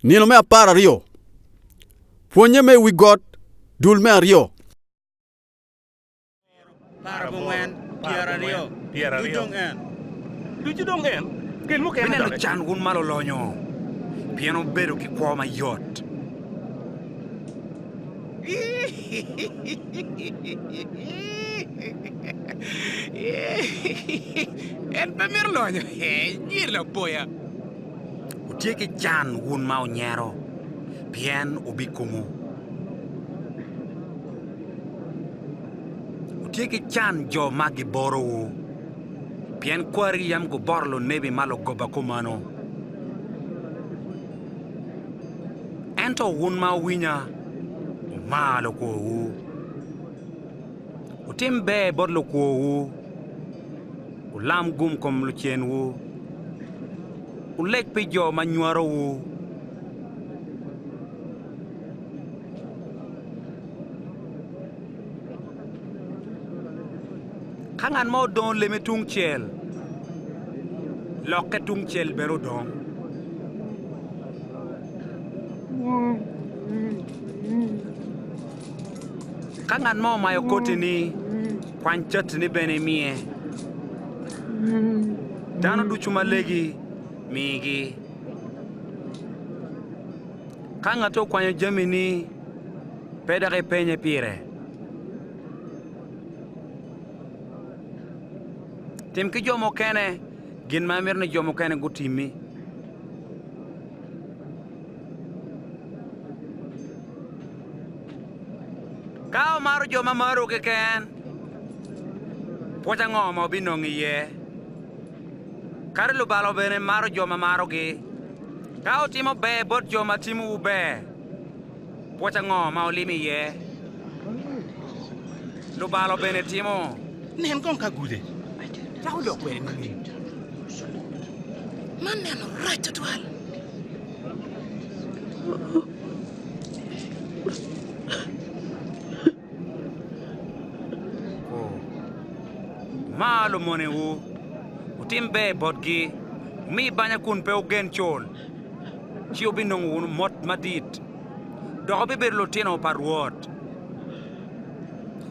Nino me apar aryo, Pwonnye me i wi got, dul me aryo. Bineno can wun ma lulonyo, Pien wubedo ki kwo mayot. En pe mito lonyo. Nyir lapoya. Wutye ki can wun ma wunyero, pien wubikumo. Wutye ki can jo ma giborowu, pien kwari yam guboro lunebi ma lugoba kumeno. Ento wun ma wuwinya, wumar lukworwu, wutim ber bot lukworwu, wulam gum kom lucenwu, wuleg pi jo ma nywarowu, Ka ngat mo odongo leme tungcel, lokke tungcel bene odong. Ka ngat mo omayo koti-ni, kwany cati-ni bene imiye. Dano ducu ma legi, migi. Ka ngati okwanyo jamini, pe dok ipenye pire. Tim ki jo mukene gin ma imito ni jo mukene gutimmi. Ka omaro jo ma maro keken, pwoc ango ma obinongo iye? Kadi lubalo bene maro jo ma marogi. Ka wutimo ber bot jo ma timowu ber, Pwoc ango ma olimi iye? Lubalo bene timo. Nen kong ka gude cako dok kwede nining? Man neno rac tutwal. Mar lumonewu, wutim ber botgi, wumi banya kun pe wugen col, ci wubinongo wunu mot madit, dok wubibedo lutino pa Rwot.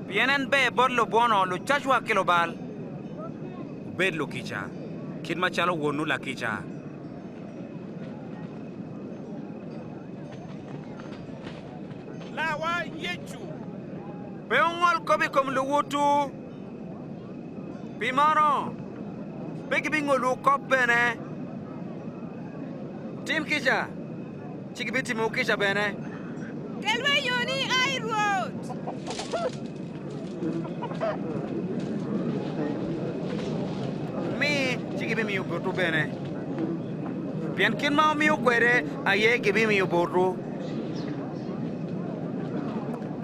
Pien en ber bot lubwono, lucacwa ki lubal. Wubed lukica, kit macalo Wonwu lakica. Larwa Yecu pe ongol kop i kom luwotwu, pi meno pe gibingolwu kop bene. Wutim kica, ci gibitimowu kica bene. Kelwa i yoni, ai Rwot. Wumi, ci gibimiyo botwu bene, pien kit ma wumiyo kwede aye gibimiyo botwu.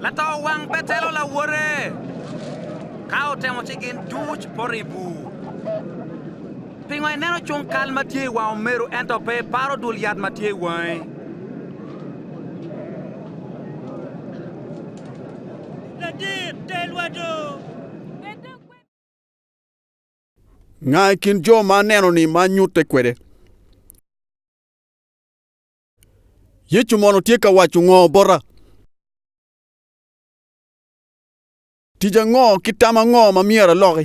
Lato wang betelo lawote, ka otemo ci gin duc poto i bur. Pingo ineno cung kal ma tye i wang omeru ento pe iparo dul yat ma tye i wangi? Nga i kin jo ma aneno-ni ma anyutte kwede? Yecu mono tye ka waco ngo bota? Tic ango ki tam ango ma myero aloki?